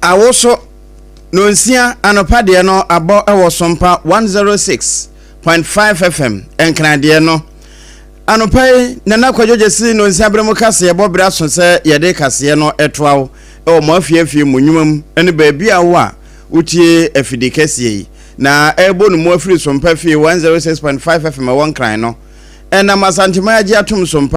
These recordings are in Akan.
Awoso nonsia anɔpa deɛ no abɔ wɔ Sompa 106.5 FM Nkradeɛ no. Anɔpa yi Nana Kwadwo Gyasi nonsia berɛ mu kaseɛ bɔ berɛ aso sɛ yɛde kaseɛ no toa wo wɔ mo afie afie mu nnwuma mu ne baabi a wo a wotie afidi kɛseɛ yi na ɛrebɔ no mu afiri Sompa fie 106.5 FM ɛwɔ Nkran no. Ɛnam Asanteman agye atom so mpa.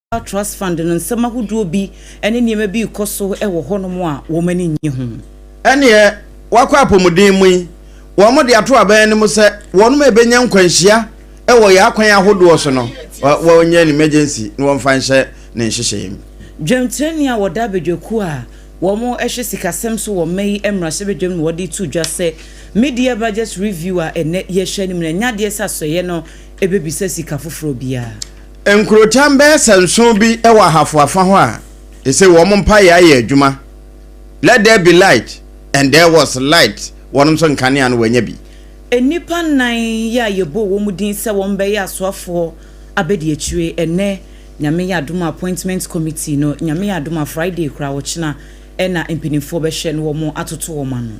Global Trust Fund no nsɛm ahodoɔ bi ne nneɛma bi rekɔ so wɔ hɔnom a wɔn ani nnye ho. Ɛnneɛ wɔakɔ apɔmuden mu yi, wɔde ato abɛn no mu sɛ wɔnom ɛbɛnya nkwanhyia wɔ yɛn akwan ahodoɔ so no, wɔnyɛ no emergency na wɔmfa nhyɛ ne nhyehyɛeɛ mu. Dwamtirani a wɔda abadwakuo a wɔhwɛ sikasɛm so wɔ mma yi mmarahyɛbadwam na wɔde reto dwa sɛ Mid-year Budget Review a ɛnnɛ yɛrehyɛ no mu no, ɛnyɛ adeɛ sɛ asɔeɛ no bɛbisa sika foforɔ biara. Nkurotam bɛyɛ sɛ nson bi wɔ ahafo afã hɔ a ese wɔn mpae ayɛ adwuma, Let there be light and there was light, wɔnom nso nkanea no wɔanya bi. Nnipa nnan yi a yɛbɔɔ wɔn din sɛ wɔbɛyɛ asoafoɔ abadiakyire ɛnnɛ, Nyame yɛ adom a appointment committee no, Nyame yɛ adom a Friday koraa ɔkyena na mpaninfoɔ bɛhwɛ na wɔn atoto wɔn ano.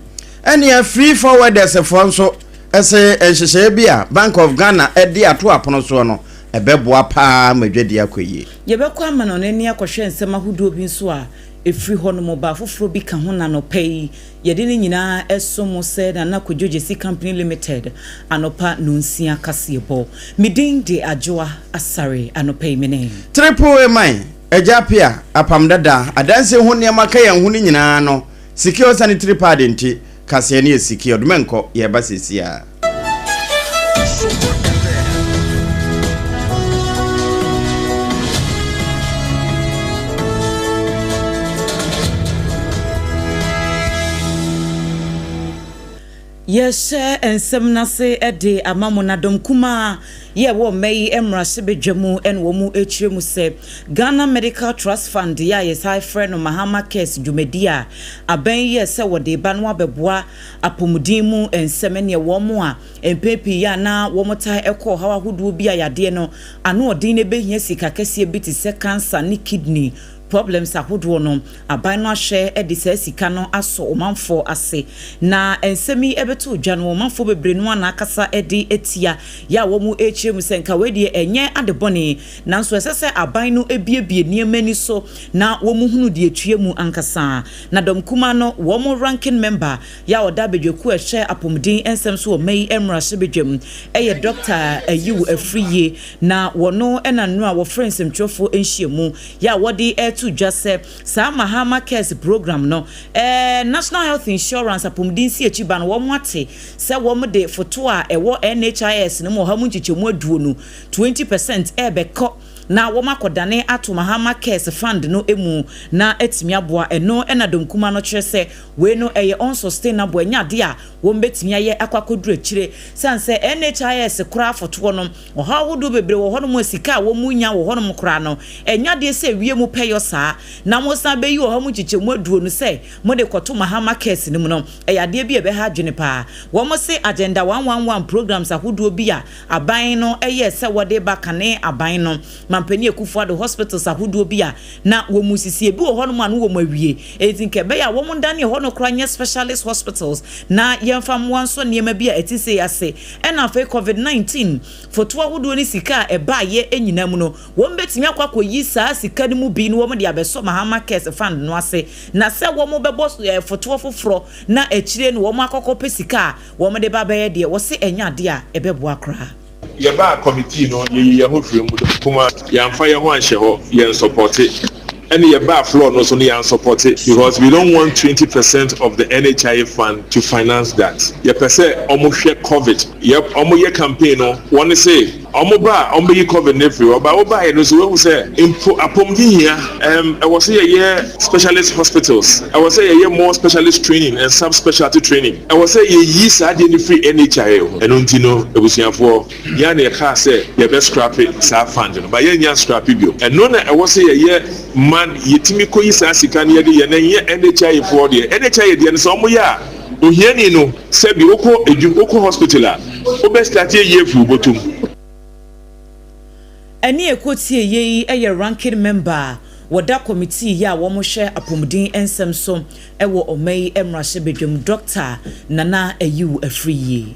Ɛnea Free Forwarders foɔ nso se nhyehyɛeɛ bi a Bank of Ghana de ato apono soɔ no, ɛbɛboa paa ma dwadie akɔ yie. Yɛbɛkɔ amanɔne ne akɔhwɛ nsɛm ahodoɔ bi nso a ɛfiri hɔ nom. Ɔbaa foforɔ bi ka ho na anɔpa yi yɛde ne nyinaa ɛso mo sɛ Nana Kwadwo Gyasi Company Limited anɔpa nonsia kaseɛbɔ. Me din de Adwoa Asare. Anɔpa yi me ne. Triple A man, Agya Appiah, Apam Dada, Adansie ho nneɛma ka yɛn ho no nyinaa no, Secure Sanitary Pad nti. Kaseɛ ne yɛ siki ɔdoma nkɔ yɛreba sesiaa. Yɛhyɛ nsɛm no ase de ama mo na dɔm kumaa. Yɛ wɔ mmɛ yi mmarahyɛbadwa mu na wɔn ɛkyerɛ mu sɛ Ghana Medical Trust Fund yɛ a yɛsan frɛ no Mahama Cares dwumadi a aban yi yɛɛ sɛ wɔde ba no abɛboa apɔmuden mu nsɛm ɛneɛ wɔn a mpɛn pii yɛ a na wɔn taa ɛkɔ ɔhaw ahodoɔ bi a yadeɛ no ano ɔden na ɛbɛhia sika kɛseɛ bi te sɛ cancer ne kidney problems ahodoɔ no, aban no ahwɛ de saa sika no asɔ ɔmanfoɔ ase. Na nsɛm yi bɛtoo dwa no, ɔmanfoɔ bebree no ara na akasa de atia, yɛ a wɔn rekyerɛ mu sɛ nka wei deɛ ɛnyɛ ade bɔne, nanso ɛsɛ sɛ aban no buebue nneɛma ani so na wɔn hunu deɛ ɛtua mu ankasa. Na Dɔm Kumaa no wɔn ranking member, yɛ a ɔda badwakuo a ɛhwɛ apɔmuden nsɛm so wɔ mma yi mmarahyɛbadwam, yɛ Dɔkta Ayew Afriyie, na wɔno na nnora wɔfrɛ nsɛmtwerɛfoɔ nhyiamu, Yɛ a wɔde to dwa sɛ saa Mahama Cares program no, ɛɛ National Health Insurance apɔmuden si akyi ba no, wɔate sɛ wɔde foto a ɛwɔ NHIS no mu ɔha mu nkyekyɛmu aduonu, twenty percent, rebɛkɔ na wɔakɔdane ato Mahama Cares Fund no mu na atumi aboa. Ɛno na Donkuma no kyerɛ sɛ wei no ɛyɛ unsustainable, ɛnyɛ ade a wɔbɛtumi ayɛ akɔ akɔduru akyire, sane sɛ NHIS koraa fotoɔ no, Ɔhaw ahodoɔ bebree wɔ hɔnom a sika a wɔnya wɔ hɔnom koraa no, ɛnyɛ adeɛ sɛ ɛwie mo pɛyɔ saa. Na mosan bɛyi ɔhaw mu nkyekyɛmu aduonu sɛ mode kɔto Mahama Cares no mu no, ɛyɛ adeɛ bi a ɛbɛha adwene pa ara. Wɔse Agenda one one one programs ahodoɔ bi a aban no yɛɛ sɛ wɔde reba kane aban no, Mampanin Akuffo Addo hospitals ahodoɔ bi a na wɔresisi, ebi wɔ hɔnom a na wɔawie. Enti nka ɛbɛyɛ a wɔndane ɛhɔ no koraa nyɛ specialist hospitals na yɛmfa mmoa nsɔ nneɛma bi a ɛte sei ase Ɛna afei covid 19 foto ahodoɔ ne sika a ɛbaeɛ nyinaa mu no, wɔn bɛtumi akɔ akɔyi saa sika no mu bi na wɔn de abɛsɔ Mahama Cares Fund no ase na sɛ wɔn bɛbɔ fotoɔ foforɔ na akyire no wɔn akɔkɔ pɛ sika a wɔn de ba bɛyɛ deɛ, wɔse ɛnyɛ adeɛ a ɛbɛboa koraa. Yɛbaa committee no yɛyi yɛho firii mu dɛ nkomaa yɛanfa yɛho anhyɛ hɔ yɛn sɔpɔte. Ɛna yɛbaa floor no so no yɛansɔpɔte because we don't want twenty percent of the NHIA fund to finance that. Yɛpɛ sɛ wɔhwɛ covid. Yɛp, wɔyɛ campaign no wɔn se wɔba a wɔbɛyi covid no afiri hɔ but wobaeɛ no nso woahu sɛ mpo apɔmuden hia. Ɛm, ɛwɔ sɛ yɛyɛ specialist hospitals, ɛwɔ sɛ yɛyɛ more specialist training and sub-specialty training, ɛwɔ sɛ yɛyi saa adeɛ no firi NHIA ho. Ɛno nti no abusuafoɔ. Yɛa na yɛkaa sɛ yɛbɛ scrape saa fund no but yɛnnya nscrape bio. Ɛno na ɛwɔ sɛ yɛyɛ ma yɛtumi kɔyi saa sika no yɛde yɛ na ɛnyɛ NHIA foɔ deɛ. NHIA deɛ no sɛ wɔn yɛ a ohiani no sɛbi wokɔ adwum wokɔ hospital a wobɛ starte ayie afiri wo bɔtɔm. Ɛne ɛkɔ tie yɛ yi yɛ ranking member a wɔda kɔmitii yɛ a wɔn hwɛ apɔmuden nsɛm so wɔ ɔman yi mmarahyɛ badwam Doctor Nana Ayew Afriyie.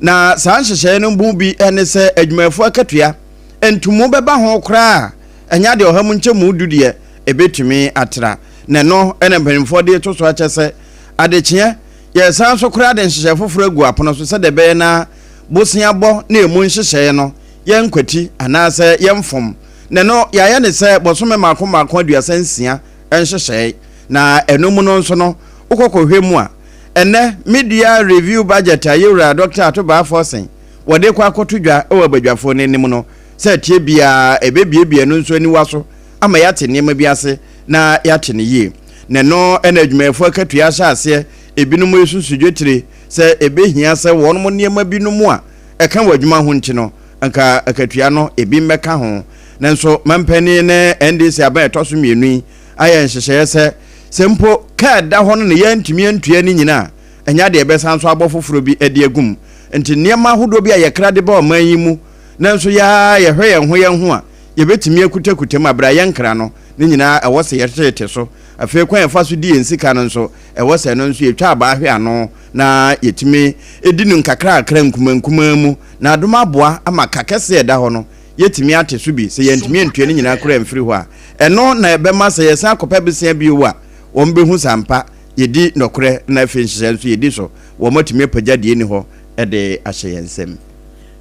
Na saa nhyehyɛeɛ no mu bi ne sɛ adwumayɛfoɔ akatua, ntumu bɛba ho koraa a, ɛnyɛ adeɛ ɔha mu nkyɛmu du deɛ ɛbɛtumi atra. Na ɛno na mpanimfoɔ de reto so akyɛ sɛ adekyeɛ yɛresan so koraa de nhyehyɛeɛ foforɔ agu apono so sɛdeɛ ɛbɛyɛ na bosea bɔ ne ɛmu nhyehyɛeɛ no yɛnkwati anaasɛ yɛmfom. Na ɛno yɛayɛ ne sɛ bosome mmaako mmaako aduasa nsia nhyehyɛeɛ. Na ɛno mu no nso no wokɔ kɔhwɛ mu a, Ɛnnɛ, Media Review Budget a Yewura Dɔkta Ato Baa Forson wɔde rekɔ akɔto dwa wɔ abadwafoɔ no anim no, sɛ ɛteɛ biara ɛbɛbuebue ɛno nso aniwa so ama yɛate nneɛma bi ase na yɛate no yie. Na ɛno na adwumayɛfoɔ akatua ahyɛ aseɛ, ebinom resusu dwetire sɛ ɛbɛhia sɛ wɔnom nneɛma binom a ɛka wɔn adwuma ho nti no anka akatua no ebi mmɛka ho. Nanso mampanin ne NDC aban a ɛtɔ so mmienu yi ayɛ nhyehyɛeɛ sɛ, sɛ mpo kaa a ɛda hɔ no na yɛantumi antua ne nyina a, ɛnyɛ adeɛ yɛbɛsan so abɔ foforɔ bi de agu mu. Enti nneɛma ahodoɔ bi a yɛkra de ba ɔman yi mu nanso yɛ ara yɛhwɛ yɛn ho yɛn ho a, yɛbɛtumi akutakuta mu. Berɛ a yɛnkra no, ne nyinaa ɛwɔ sɛ yɛtete so. Afei kwan a yɛfa so di yɛn sika no nso, ɛwɔ sɛ ɛno nso yɛtwa abaa hwɛ ano na yɛtumi di no nkakrankakra nkumaa nkumaa mu. Na adom aboa ama ka kɛseɛ a ɛda hɔ no, yɛatumi ate so bi, sɛ yɛantumi antua ne nyinaa koraa amfiri hɔ a, ɛno na ɛbɛma sɛ yɛsan akɔpɛ bosea bio a, wɔbɛhu sɛ ampa yɛdi nɔkorɛ na afei nhyehyɛeɛ nso yɛdi so, wɔatumi apagya deɛ ɛnni hɔ de ahyɛ yɛn nsam.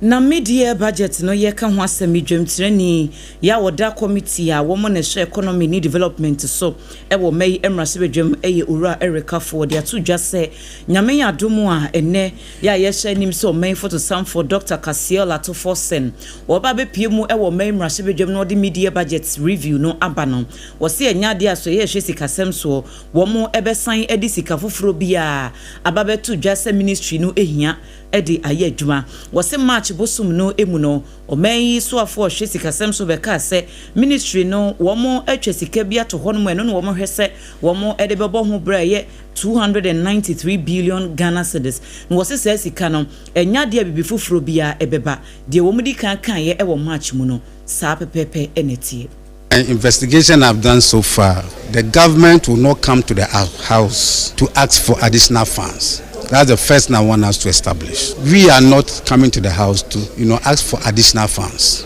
Na Mid-Year Budget no yɛka ho asɛm yi, dwamtirani yi a ɔda Kɔmitii a wɔn na ɛhwɛ Economy ne Development so wɔ mma yi mmarahyɛbadwam yɛ Owura Eric Afful, ɔde ato dwa sɛ Nyame adom a ɛnnɛ Yɛ a yɛahyɛ anim sɛ ɔman fotosamfoɔ Dɔkta Kassiel Atofor Sen wɔba abɛpue mu wɔ ɔman mmarahyɛbadwam na wɔde Mid-Year Budget Review no aba no, wɔse ɛnyɛ adeɛ a sɛ yɛrehwɛ sikasɛm soɔ wɔn bɛsan de sika foforɔ biara aba bɛto dwa sɛ ministry no hia de ayɛ adwuma. Wɔse March bosom no mu no, ɔman yi soafoɔ a ɔhwɛ sikasɛm so bɛkaa sɛ ministry no wɔatwa sika bi ato hɔnom a ɛno na wɔhwɛ sɛ wɔde bɛbɔ ho bra yɛ 293 billion Ghana cedis, na wɔse saa sika no, ɛnyɛ adeɛ a biribi foforɔ biara ɛbɛba. Deɛ wɔn di kan kaeɛ wɔ March mu no, saa pɛpɛɛpɛ na ɛteɛ. And investigation I've done so far, the government will not come to the house to ask for additional funds, that's the first thing I want us to establish, we are not coming to the house to you know ask for additional funds.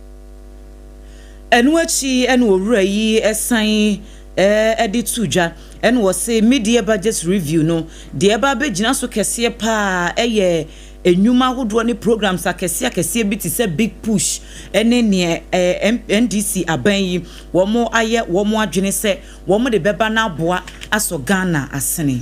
Ɛno akyi na owura yi san de to dwa na ɔse media budget review no deɛ ɛba abɛgyina so kɛseɛ paa yɛ nnwuma ahodoɔ ne programs akɛseɛ akɛseɛ bi te sɛ big push ne neɛ NDC aban yi wɔn ayɛ wɔn adwene sɛ wɔn de bɛba no aboa asɔ Ghana asene.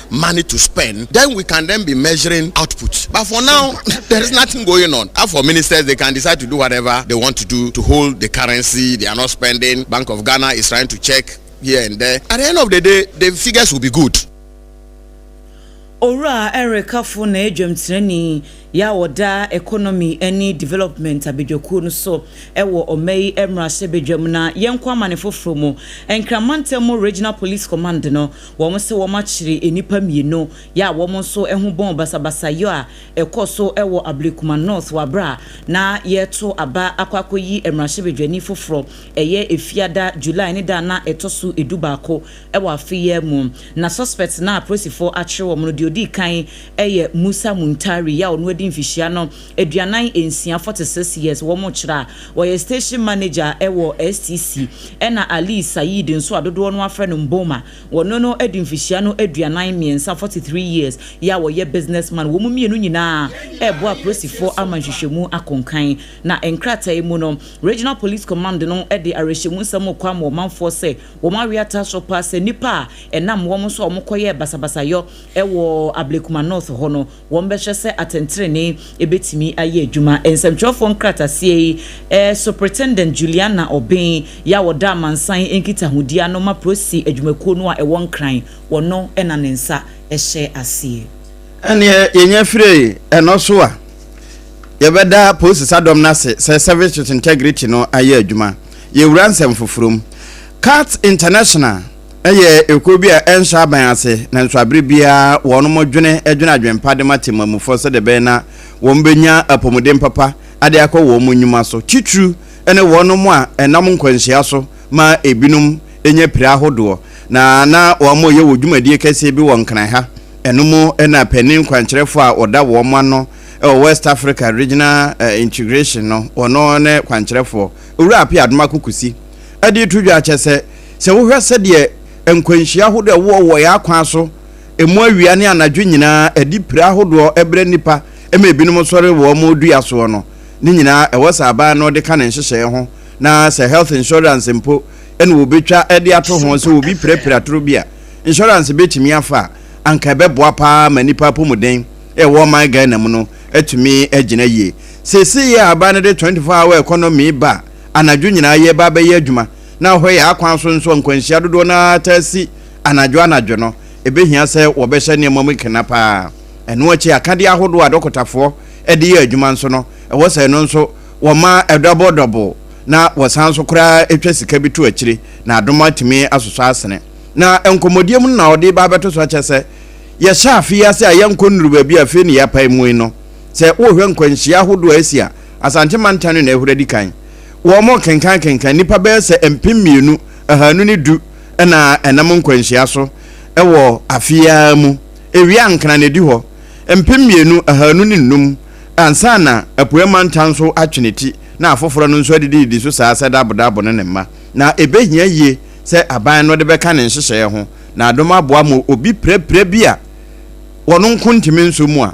money to spend then we can then be measuring output but for now there is nothing going on as for ministers they can decide to do whatever they want to do to hold the currency they are not spending bank of Ghana is trying to check here and there at the end of the day the figures will be good. Owura Eric Kafo na yɛ dwamtirani yɛ a ɔda Economy ne Development abadwakuo no so wɔ ɔma yi mmarahyɛbadwam na yɛnkɔ amane foforɔ mu. Nkraman Ntam Regional Police Command no Wɔn se wɔn akyere nnipa mmienu yɛ a wɔn nso ho bɔn basabasayɔ a ɛkɔ so wɔ Ablekuma North wɔ abere a na yɛreto aba akɔ akɔyi mmarahyɛbadwani foforɔ ɛyɛ Efiada, July ne da a na ɛtɔ so du baako wɔ afe yi ara mu. Na suspects no a apolisifoɔ akyere wɔn no deɛ ɔdii kan yɛ Musa Muntari a ɔno adi mfihyia no aduanan nsia, forty six years, wɔn kyerɛ a ɔyɛ station manager wɔ STC, ɛna Ali Saeed nso a dodoɔ no ara frɛ no Mboma, wɔne no adi mfihyia no aduanan mmiɛnsa, forty three years, yɛ a ɔyɛ business man, wɔn mmienu nyinaa reboa apolisifoɔ ama nhwehwɛmu akɔ nkan. Na nkrataa yi mu no, Regional Police Command no de awerɛhyɛmu nsɛm rekɔ ama ɔmanfoɔ sɛ wɔn awe atra so paa sɛ nnipa a ɛnam wɔn so a wɔkɔyɛɛ basabasayɔ wɔ Ablekuma North hɔ no, wɔbɛhwɛ sɛ atɛntrenee betumi ayɛ adwuma. Nsɛmtwerɛfoɔ nkrataseɛ yi, Superintendent Juliana Obeng, yɛ a ɔda amansan nkitahodie ano ma Prossy adwumakuo no a ɛwɔ Nkran, ɔno na ne nsa hyɛ aseɛ. Ɛnneɛ yɛnya firi ɛno so a, yɛbɛda Prossy Sadom no ase sɛ Service with Integrity no ayɛ adwuma. Yɛwura nsɛm foforɔ mu. Cat International. Ɛyɛ ekuo bi a ɛnhyɛ aban ase, nanso abere biara wɔnom dwene dwene adwenpa de ma temamufɔ sɛdeɛ ɛbɛyɛ na wɔn bɛnya apɔmuden papa ade akɔ wɔn nnwuma so, titiriw ne wɔnom a ɛnam nkwanhyia so ma ebinom nya pira ahodoɔ. Na na wɔn reyɛ wɔ dwumadie kɛseɛ bi wɔ Nkran ha, ɛno mu na panin kwankyerɛfoɔ a ɔda wɔn ano wɔ West Africa Regional Integration no, ɔno ne kwankyerɛfoɔ, Owura Appiah Adomakokusi, de reto dwa akyɛ sɛ, Sɛ wohwɛ sɛdeɛ nkwanhyia ahodoɔ a ɛwowɔ wɔ yɛn akwan so, ɛmu awia ne anadwo nyinaa, ɛde pira ahodoɔ brɛ nnipa ma ebinom sɔre wɔ wɔn dua soɔ no, ne nyinaa ɛwɔ sɛ aban no de ka ne nhyehyɛeɛ ho na sɛ health insurance mpo na wɔbɛtwa de ato ho sɛ obi pirapira atoro bi a insurance bɛtumi afa a, anka ɛbɛboa pa ara ma nnipa apɔmuden a ɛwɔ ɔman Ghana mu no atumi agyina yie. Seesei a aban no de 24 hour economy ba a, anadwo nyinaa yɛreba abɛyɛ adwuma, na hɔyɛ akwan so nso a nkwanhyia dodoɔ no ara taa si anadwo anadwo no, ɛbɛhia sɛ wɔbɛhyɛ nneɛma mu kena pa ara. Ɛno akyi, akadeɛ ahodoɔ a adɔkotafoɔ de yɛ adwuma nso no, ɛwɔ sɛ ɛno nso wɔma ɛdɔbol dɔbol na wɔsan nso koraa twa sika bi to akyire na adom atumi asosɔ asene. Na nkɔmmɔdie mu no na ɔde reba abɛto so akyɛ sɛ, yɛhyɛ afe yi ase a yɛnkɔ nnuru baabi a afei na yɛapae mu yi no. Sɛ wohwɛ nkwanhyia ahodoɔ a ɛsi a, Asante mantam no na ɛhora di kan. Wɔkenkankenkan nnipa bɛyɛ sɛ mpem mmienu, ahanu ne du na ɛnam nkwanhyia so wɔ afe yi ara mu. Ewia ankena na edi hɔ mpem mmienu, ahanu ne nnum ansa na Apueɛ Mantam nso atwe ne ti na afoforɔ no nso adidididi so saa sɛ Dabo Dabo ne ne mma. Na ɛbɛhia yie sɛ aban no de bɛka ne nhyehyɛeɛ ho na adom aboa ma obi pirapira bi a wɔn nko ntumi nso mu a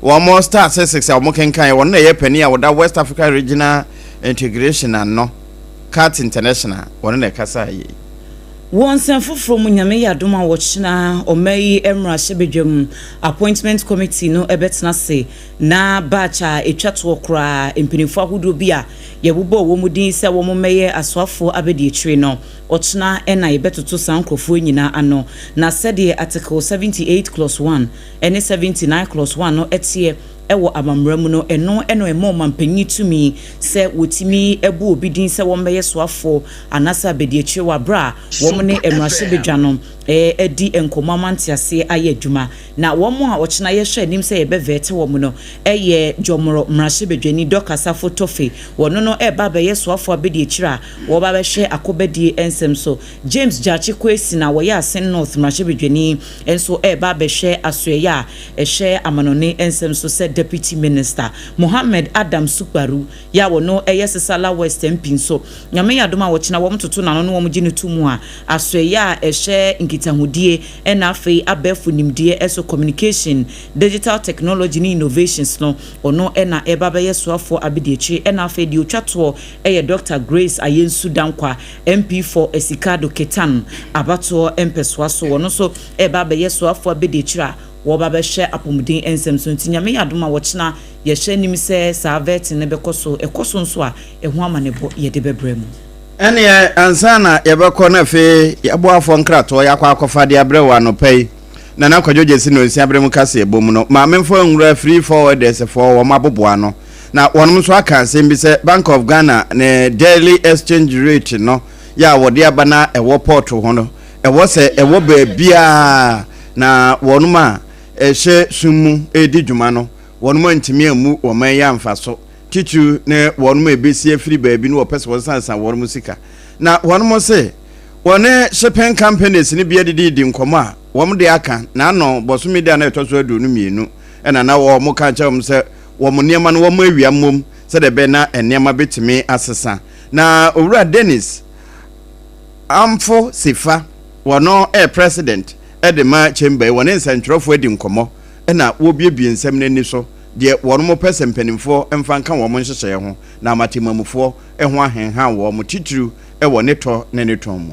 Wɔn statistics a wɔkenkan yɛ wɔn na ɛyɛ panin a ɔda West Africa Regional Integration ano, CART International, wɔn na ɛkasaa yei. Wɔ nsɛm foforɔ mu, Nyame yɛ adom a ɔkyena ɔman yi mmarahyɛbadwam Appointment Committee no bɛtena ase na batch a ɛtwa toɔ koraa, mpaninfoɔ ahodoɔ bi a yɛbobɔɔ wɔn din sɛ wɔn mmɛyɛ asoafoɔ abadiakyire no, ɔkyena na yɛbɛtoto saa nkorɔfoɔ nyinaa ano. Na sɛdeɛ Article 78 Clause 1 ɛne Seventy Nine Clause One no teɛ wɔ amammara mu no, ɛno na ɛma ɔmampanyin tumi sɛ wɔtumi bu obi din sɛ wɔmmɛyɛ soafoɔ anaasɛ abadiakyire wɔ aberɛ a wɔn ne mmarahyɛbadwa no adi nkɔmmɔ ama nteaseɛ ayɛ adwuma. Na wɔn a ɔkyena yɛhwɛ anim sɛ yɛbɛvɛɛte wɔn no yɛ Jɔmorɔ mmarahyɛbadwani Dorcas Afo Toffey, ɔno no reba abɛyɛ soafoɔ abadiakyire a ɔreba abɛhwɛ akobadie nsɛm so James Gyakye Kwesi na ɔyɛ Asin North mmarahyɛbadwani nso reba abɛhwɛ asoɛeɛ a ɛhwɛ amanɔne nsɛm so sɛ Deputy Minister. Mohammed Adam Sukparu yi a ɔno yɛ Sesala West MP nso, Nyame yɛ adom a ɔkyena wɔtoto n'ano na wɔgye no to mu a asoɛeɛ a ɛhwɛ nkitahodie na afei abɛɛfo nimdeɛ so, Communication, Digital Technology ne Innovations no, ɔno na ɛreba abɛyɛ soafoɔ abadiakyire na afei deɛ ɔtwa toɔ yɛ Dɔkta Grace Ayensu Dankwah. Mpeefo Esikado Ketan abatoɔ mpɛsoa so, wɔn nso reba abɛyɛ soafoɔ abadiakyire a wɔreba abɛhwɛ apɔmuden nsɛm so. Nti Nyame yɛ adom a ɔkyena yɛhyɛ anim sɛ saa vetting no bɛkɔ so, ɛkɔ so nso a ɛho amanebɔ yɛde bɛbrɛ mo. Ɛneɛ ansa na yɛbɛkɔ na afei yɛaboafoɔ nkratoɔ yɛakɔ akɔfa de abrɛ wo anɔpa yi, Nana Kwadwo Gyasi Nonsia berɛ mu kaseɛbɔ mu no, Maame Mfoa Nwura Free Forwarders foɔ wɔn aboboano. Na wɔnom nso aka asɛm bi sɛ Bank of Ghana ne Daily Exchange Rate no yɛ a wɔde aba na ɛwɔ pɔɔto ho no, ɛwɔ sɛ ɛwɔ baabiara na wɔnom a ɛhyɛ sum mu redi dwuma no, wɔnom antumi ammu wɔman yi amfaso, titiriw ne wɔnom a ɛbɛsi afiri baabi ne wɔpɛ sɛ wɔsansan wɔnom sika. Na wɔnom se wɔne shipping companies no bi adidi redi nkɔmmɔ a wɔmde aka, na ano bɔsome da no a ɛtɔ so aduonu mmienu na na wɔka akyerɛ wɔn sɛ wɔn nneɛma no wɔawia mmom sɛdeɛ ɛbɛyɛ na nneɛma bɛtumi asesa. Na Owura Dennis Amfo Sifa, ɔno yɛ President de ma Chamber yi, wɔne nsɛntwerɛfoɔ adi nkɔmmɔ na wɔrebuebue nsɛm no ani so, deɛ wɔpɛ sɛ mpanimfoɔ mfa nka wɔn nhyehyɛeɛ ho, na ama temmamufoɔ ho ahenhan wɔn, titiriw wɔ ne tɔ ne ne tɔn mu.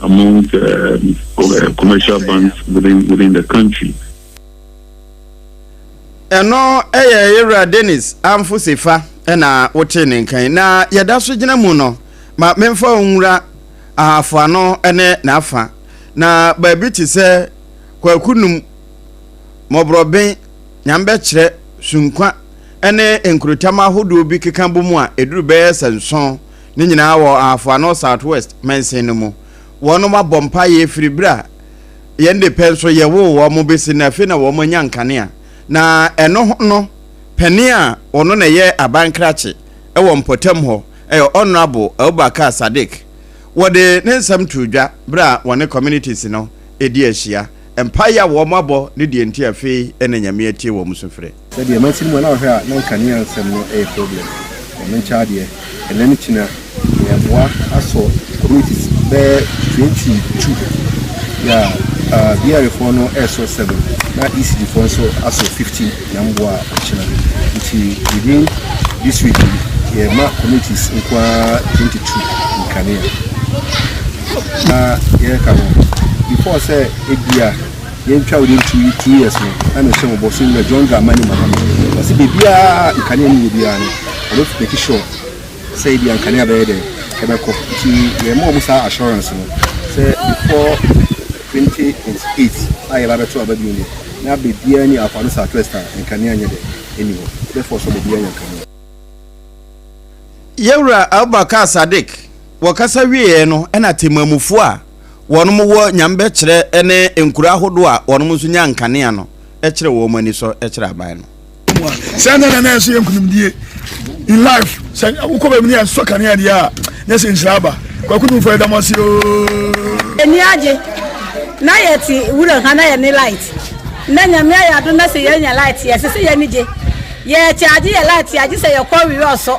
among the commercial banks within within the country. ɛno yɛ yɛwura dennis amfosefa na wotee ne nkan na yɛda so gyina mu no ma memfa nwura ahafo ano ne n'afa na baabi te sɛ kwaku num mmɔborɔben nyambɛkyerɛ sunkwa ne nkurotam ahodoɔ bi keka bɔ mu a ɛduru bɛyɛ sɛ nson Ne nyinaa wɔ Ahafo Ano Southwest mansin no mu. Wɔnom abɔ mpaeɛ firi berɛ a yɛn de pɛ nso yɛwoo wɔn bɛsi nnɛ. Afei na wɔn anya nkanea. Na ɛno ho no, panin a ɔno na ɛyɛ aban krakye wɔ mpɔtam hɔ, ɛyɛ Honourable Abubakar Sadiq, wɔde ne nsɛm too dwa berɛ a wɔne communities no redi ahyia. Mpaeɛ a wɔn abɔ ne deɛ nti a afei na Nyame atie wɔn sufrɛ. Na deɛ mansin mu a na ɔhwɛ a na nkanea nsɛm no yɛ problem wɔ me nkyɛn adeɛ ɛnɛ ne kyina me aboa asɔ communities bɛyɛ twenty two yɛ a BRA foɔ no ɛsɔ seven na ECD foɔ nso asɔ fifteen na mboa kyina nti within this week yɛ ma communities nkoa twenty two nkanea na yɛka no before sɛ ebia. yɛntwa wo den two, two years no na mehyɛ mo bɔ so nyɛ John Dramani Mahama ɔse baabiaa nkanea ne wɔ biara no ɔbɛ make sure sɛ ebia nkanea bɛyɛ dɛ ɛbɛkɔ nti yɛma ɔmo saa assurance no sɛ before 2028 a yɛba bɛto aba bio deɛ na baabiaa ni Afado Southwest a nkanea nyɛ dɛ ɛni hɔ therefore sɛ ɔmo biaa nya nkanea. Yɛwura Abubakar Sadiq wɔ kasa wieɛ no ɛna temanmufoɔ a. wɔnom wɔ nyamebɛkyerɛ ne nkuro ahodoɔ a wɔnom nso nya nkanea no kyerɛ wɔnom ani sɔ kyerɛ aban no. Sɛ na na ɛso yɛ nkunimdie in life sɛ wokɔ baabi ne yɛsɔ kanea deɛ a na sɛ nhyira aba kwaku dumfo ɛda mo ase oo ani agye na yɛte wura ha na yɛne light na nyame ayɛ ado na sɛ yɛnya light yɛse sɛ yɛne gye yɛkyɛ agye yɛ light agye sɛ yɛkɔ wiɛ ɔsɔ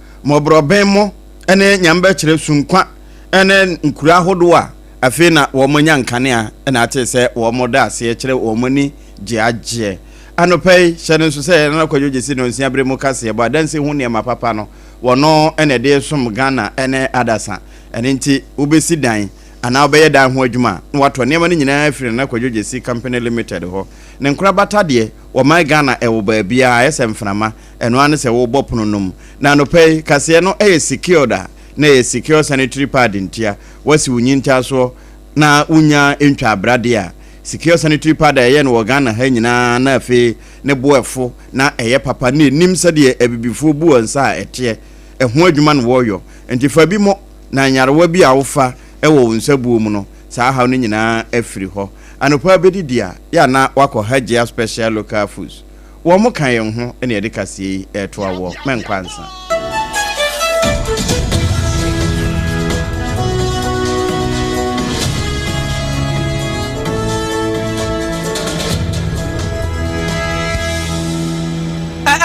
mmɔborɔbɛmmɔ ne Nyame bɛkyerɛ su nkwa ne nkuro ahodoɔ a afei na wɔn nya nkanea na atee sɛ wɔn da aseɛ kyerɛ wɔn ani gye agyeɛ. Anɔpa yi, hyɛ no nso sɛ Nana Kwadwo Gyesi Nonsia Bere mu Kaseɛbɔ Adansi ho nneɛma papa no, wɔno na ɛde resom Ghana ne adasa. Ɛno nti, wobɛsi dan anaa wobɛyɛ dan ho adwuma a, na watɔ nneɛma no nyinaa afiri Nana Kwadwo Gyesi Company Limited hɔ. Ne nkorabata deɛ, wɔman Ghana ɛwɔ baabiara, ayɛ sɛ mframa. Ɛno ara ne sɛ wobɔ pono nom. Na anɔpa yi, kaseɛ no yɛ secured a, na ɛyɛ secure sanitary pad ntia, woasi wo nyintaasoɔ na wonnya ntwa abra deɛ a, secure sanitary pad a yɛyɛ no wɔ Ghana ha nyinaa na afei ne bo ɛfo na ɛyɛ papa na ɛnim sɛdeɛ abibifoɔ bu wɔn nsa a ɛteɛ, ɛho adwuma na wɔyɔ. Nti fa bi mɔ na nyarewa bi a wofa wɔ wo nsabuo mu no, saa haw no nyinaa afiri hɔ. Anɔpa bɛdidi a, yɛ a na woakɔ Hajia Special Local Foods. Wɔn ka yɛn ho na yɛde kaseɛ yi reto awoɔ. Mɛnkɔ ansa.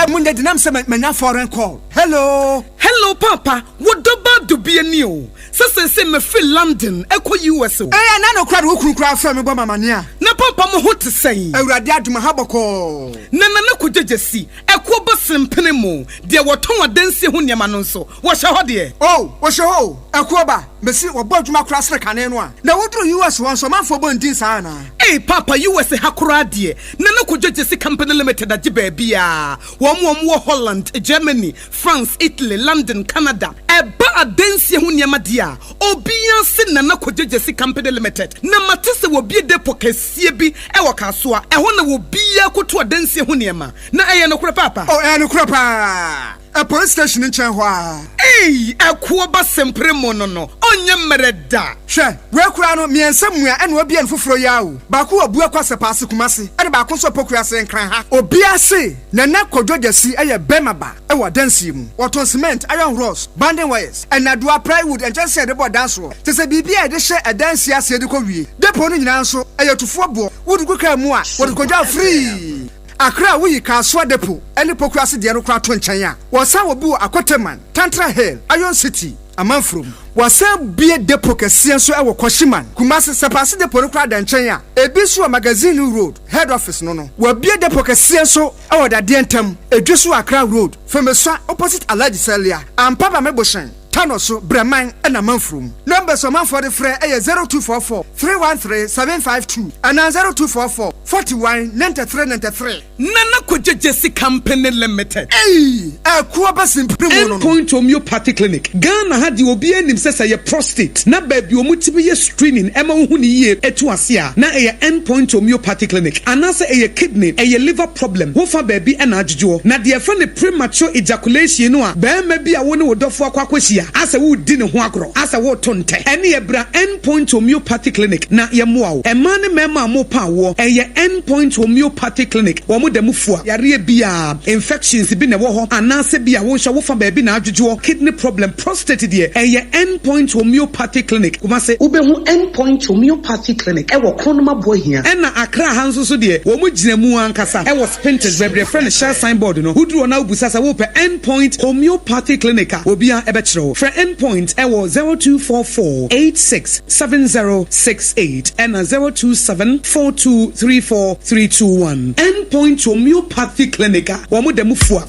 Munde denam sɛ manya foreign call. Hello. Hello papa, wo dɔ ba dɔ bi ani o. Sɛ seesei mefiri London kɔ US. o. Eɛ na nokorɛ de wo kunu koraa frɛ me bɔ me amaneɛ a. Na papa mo ho te sɛn? Awurade adom aha bɔkɔɔ. Na Nana Kogya Gyasi, ɛkoɔ bɔ sen pene mo, deɛ wɔtɔn adansie ho nneɛma no nso, wɔhyɛ hɔ deɛ? Oo, wɔhyɛ hɔ o, ɛkoɔ ba, mesi wɔbɔ adwuma koraa sene kane no a. Na woduru US hɔ nso, ɔmanfoɔ bɔ ndin saa anaa? Ei papa, US ha koraa deɛ, Nana Kogya Gyasi Company Limited agye baabiara, wɔn a wɔwɔ Holland, Germany, France, Italy, London, Canada, ɛba adansie ho nneɛma deɛ a, obiara se Nana Kogyegyesi Company Limited. Na mate sɛ wɔbue depot kɛseɛ bi wɔ Kasoa. Ɛhɔ na obiara kɔtu adansie ho nneɛma. Na ɛyɛ nokorɛ paapa? O, ɛyɛ nokorɛ pa ara. Police station nkyɛn hɔ ara. Ei, ɛkoɔ ba sempere mo no no, ɔnyɛ mmrɛ da. Hwɛ, wei koraa no, mmiɛnsa mua ɛna wɔabue no foforɔ yi ara o. Baako wɔ Buakwa Sɛpaase, Kumasi, ɛna baako nso wɔ Pokuase, Nkran ha. Obiara se Nana Kwadwo Gyasi yɛ bɛrima ba wɔ adansie mu. Ɔtɔn cement, iron rods, banding wires, nnadoa, plywood, nkyɛnsee a yɛde bɔ dan soɔ, te sɛ biribi a yɛde hyɛ adansie aseɛ de kɔ wie depot no nyinaa nso ɛyɛ tufoɔ boɔ, wode gu kaa mu a wɔde kɔgyaw frii Accra woyi Kasoa depot ne Pokuase deɛ no koraa to nkyɛn a wɔsan wɔ bi wɔ Akoteman, Tantra Hill, Iron City, Amanfro mu. Wɔasan abue depo kɛseɛ nso wɔ Kwashiman, Kumasi, Sapase depo no koraa da nkyɛn a ebi nso wɔ Magazine Road, Head Office no no. Wɔabue depo kɛseɛ nso wɔ Dadeɛ Ntam, Edwe so wɔ Accra Road, Femesua opposite Alhaji Salia, Ampaba Meboshen, Tano so, Breman na Amanfro mu. Numbers a ɔmanfoɔ de frɛ yɛ zero two four four three one three seven five two anaa zero two four four forty one ninety three ninety three. Nana Kwadwo Gyesi Kampene Limited. Ei! Ɛko aba simpiri mu no no. End Point Homeopathy Clinic. Ghana ha deɛ obiara nim sɛ sɛ ɛyɛ prostate na baabi a wɔtumi yɛ screening ɛma wohu no yie ɛtu ase a, na ɛyɛ End Point Homeopathy Clinic. Anaasɛ ɛyɛ kidney, ɛyɛ liver problem, wo fa baabi ɛna adwodwoɔ. Na deɛ yɛfrɛ no premature ejaculation no a barima bi a wo ne wo dɔfoɔ akɔ akɔhyia asɛ woredi ne ho agorɔ, asɛ woreto ntɛ, ɛneɛ bra End. Point Homeopathy Clinic na yɛmmoa wo. Mmaa ne mmarima a wɔrepɛ awoɔ, ɛyɛ End Point Homeopathy Clinic. Wɔn da mu fua yareɛ biara, infections bi na ɛwɔ hɔ anaasɛ bi a wonhwɛ wo fa baabi na adwodwoɔ, kidney problem, prostate deɛ, ɛyɛ End Point Homeopathy Clinic, Kumasi. Wobɛhu End Point Homeopathy Clinic wɔ Kronoma Buahia. Ɛna Accra ha nso so deɛ, wɔn gyina mu ankasa wɔ. Painters baabi a yɛfrɛ no Shell Sign Board no, woduru hɔ na wobisa sɛ wopɛ End Point Homeopathy Clinic a, obiara bɛkyerɛ wo. Frɛ End Point wɔ zero two four four eight six seven zero six eight ɛna zero two seven four two three four three two one. End Point Homeopathy Clinic a, wɔda mu fua.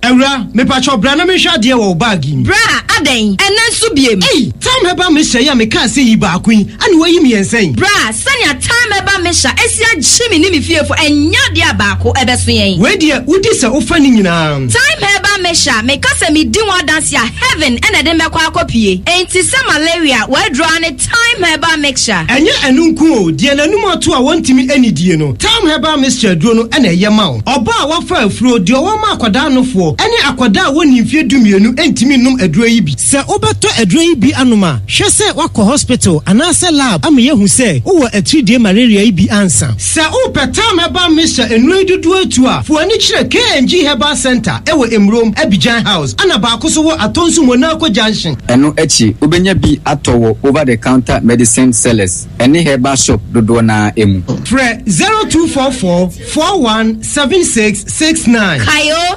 Awura, mepakyɛw bra na menhwɛ adeɛ wɔ wo bag yi mu. Bra, adɛn, ɛnnɛ nso biem? Ei! Time Herbal Mixture yi a mekaa sɛ yi baako yi, ɛna woayi mmiɛnsa yi? Bra, sɛnea Time Herbal Mixture asi agye me ne me fiefo, ɛnyɛ adeɛ a baako ɛbɛso yɛn. Wei deɛ, wodi sɛ wofa ne nyinaa. Time Herbal Mixture, meka sɛ medi ho adanse a, heaven na ɛde me bɛkɔ akɔpue. Enti sɛ malaria, w'aduro ara ne. Thyme Herbal Mixture. Ɛnyɛ ɛno nko o, deɛ n'anum ato a wɔntumi nnidie no, Thyme Herbal Mixture aduro no na ɛyɛ ma wo. Ɔbaa a wafa afuro, deɛ ɔwɔ ma akwadaa nofoɔ, ne akwadaa a wɔnnii mfeɛ dumienu ntumi nnom aduro yi bi. Sɛ wobɛtɔ aduro yi bi anom a, hwɛ sɛ woakɔ hospital anaasɛ lab ama yɛahu sɛ wowɔ atiridie malaria yi bi ansa. Sɛ wo pɛ tam herbal mixture nnuro yi dodoɔ atu a, fo ani kyerɛ KNG Herbal Centre ɛwɔ Emurom, Abidjan House, ɛna baako so wɔ Atonsu Monaco Junction. Ɛno akyi, wobɛnya bi atɔ wɔ over the counter medicine sellers ɛne herbal shop dodoɔ no ara mu. Frɛ zero two four four four one seven six six nine. Kae o!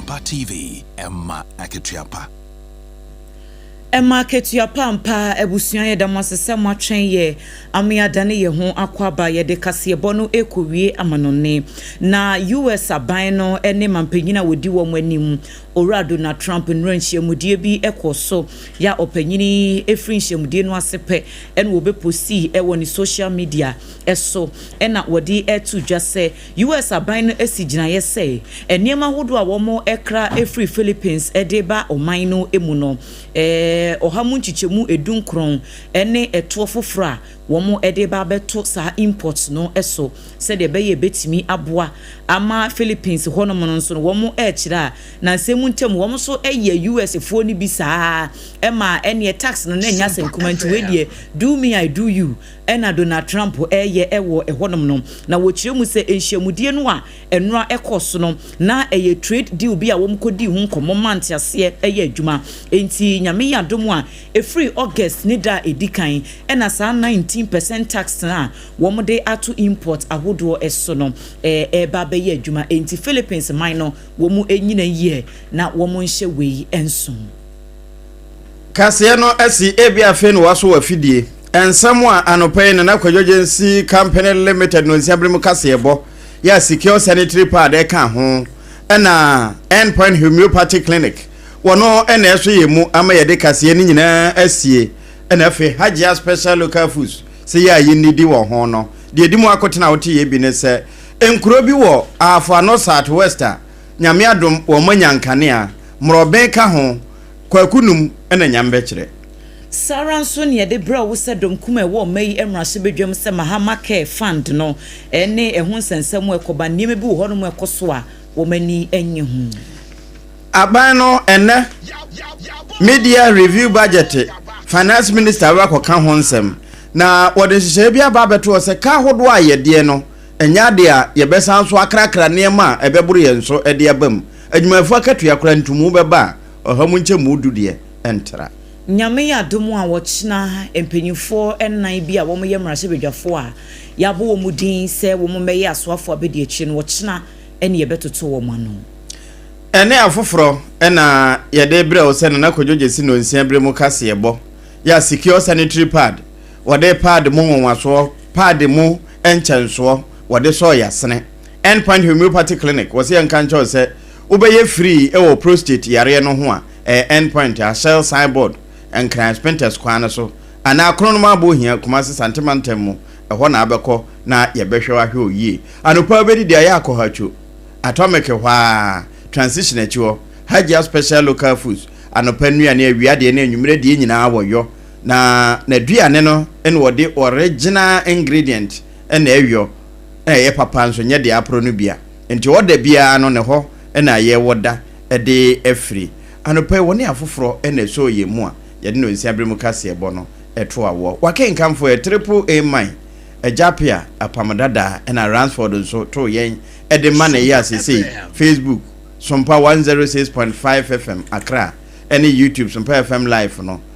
Pa TV, Ɛma Akatua Pa! Ɛma Akatua Pa! Ampa, abusua yɛda mo ase sɛ moatwɛn yɛ ama yɛadane yɛn ho akɔ aba. Yɛde kaseɛbɔ no rekɔwie amanɔnne, na US. aban no ne mampanyin a wɔdi wɔn anim, Owura Donald Trump, nnura nhyiamudeɛ bi kɔ so. Yɛ ɔpanyin yi firi nhyiamudeɛ no ase pɛ na wɔbɛpostii wɔ ne social media so na wɔde to dwa sɛ, US. aban no asi gyinaeɛ sɛ nneɛma ahodoɔ a wɔkra firi Philippines de reba ɔman no mu no, ɔha mu nkyekyɛmu du nkron ne ɛtoɔ foforɔ a wɔde reba abɛto saa imports no so sɛdeɛ ɛbɛyɛ a ɛbɛtumi aboa ama Philippines hɔnom no nso no wɔrekyerɛ a nansa mu ntam wɔn nso yɛ US. foɔ no bi saa ara ma ɛneɛ tax no na ɛnyɛ asɛm kumaa nti wei deɛ do me I do you na Donald Trump reyɛ wɔ hɔnom no, na wɔkyerɛ mu sɛ nhyiamudie no a ɛno ara ɛkɔɔ so no, na ɛyɛ trade deal bi a wɔkɔdii ho nkɔmmɔ maa nteaseɛ yɛ adwuma. Enti Nyame yɛ adom a, ɛfiri August ne da a ɛdi kan na saa nineteen percent tax a wɔde ato import ahodoɔ so no reba abɛyɛ adwuma. Enti Philippines man no, wɔnyina yie na wɔnhyɛ wei nsomm. kaseɛ no asi ebi afei na wɔasɔ afidie. Nsɛm a anɔpa yi Nana Kwadwo Gyensee Company Limited no nsia bere mu kaseɛbɔ yɛ a Secure Sanitary Pad ɛka ho ɛna Endpoint Homeopathy Clinic wɔn ɛna ɛso yɛ mu ama yɛde kaseɛ no nyinaa asie ɛna afei Hajia Special Local Foods sɛ yɛ a yɛnnidi wɔ ho no deɛ ɛdi mu akotena wote yɛ bi ne sɛ nkuro bi wɔ Ahafo Ano South West a Nyame adom wɔn moanya nkanea, mmorɔben ka ho, Kwaku Num na Nyame bɛkyerɛ. Saa ara nso na yɛde brɛ wo sɛ dɔm kumaa a ɛwɔ ɔma yi mmarahyɛbadwam sɛ Mahama Care Fund no ne ɛho nsɛnsɛm a ɛkɔba, nneɛma bi wɔ hɔnom a ɛkɔ so a wɔn ani nnye ho. Aban no ɛnnɛ Mid-Year Review Budget, Finance Minister bɛba akɔka ho nsɛm, na wɔde nhyehyɛeɛ bi aba abɛto hɔ sɛ ka ahodoɔ a yɛdeɛ no Ɛnyɛ ade a yɛbɛsan so akrakra nneɛma a ɛbɛboro yɛn so de aba mu. Adwumayɛfo akatua koraa ntumu bɛba a ɔha mu nkyɛmu du deɛ ɛntra. Nyame yɛ adom a ɔkyena mpanyimfoɔ nnan bi a wɔyɛ mmarahyɛbadwafoɔ a yɛabɔ wɔn din sɛ wɔmmɛyɛ asoafoɔ abadiakyire no, ɔkyena ne yɛbɛtoto wɔn ano. Ɛne afoforɔ na yɛde rebrɛ wo sɛ Nana Kwadwo Gyasi Nonsiaberɛ mu kaseɛbɔ yɛ a Secure Sanitary Pad, Wɔde paadi mu nwonwasoɔ, paadi mu nkyɛnsoɔ, wɔde sɔɔ yasene. End Point Homeopathy Clinic, wɔse yɛnka nkyerɛ wo sɛ wobɛyɛ free wɔ prostate yareɛ no ho a, ɛyɛ End Point a Shell sign board, Nkran Spintex kwan no so, anaa Kronomaa Bɔɔhia, Kumasi Sante Mantam mu, ɛhɔ na wobɛkɔ na yɛbɛhwɛ wo ahwɛ wo yie. Anɔpa wobɛdi deɛ ayɛ akɔhatwo, Atomic hɔ ara, Transition akyi hɔ, Hajia Special Local Foods, anɔpa nnuane, awia deɛ ne anwummerɛ deɛ nyinaa wɔyɔ, Na n'aduane no na wɔde original ingredient na ɛyɔ na ɛyɛ papa nso nyɛ deɛ aporo no bia nti ɔda biara no ne hɔ na ayɛ wɔ da de afiri anɔpa yi wɔne afoforɔ na ɛsɔɔ yɛn mu a yɛde no nsia bere mu kaseɛ bɔ no to awɔ wakenkanfo ɛ triple A mine Agya Appiah apam dada ɛna Ransford nso too yɛn de ma ne yea sesei Facebook Sompa 106.5 FM Accra ɛne YouTube Sompa FM Live no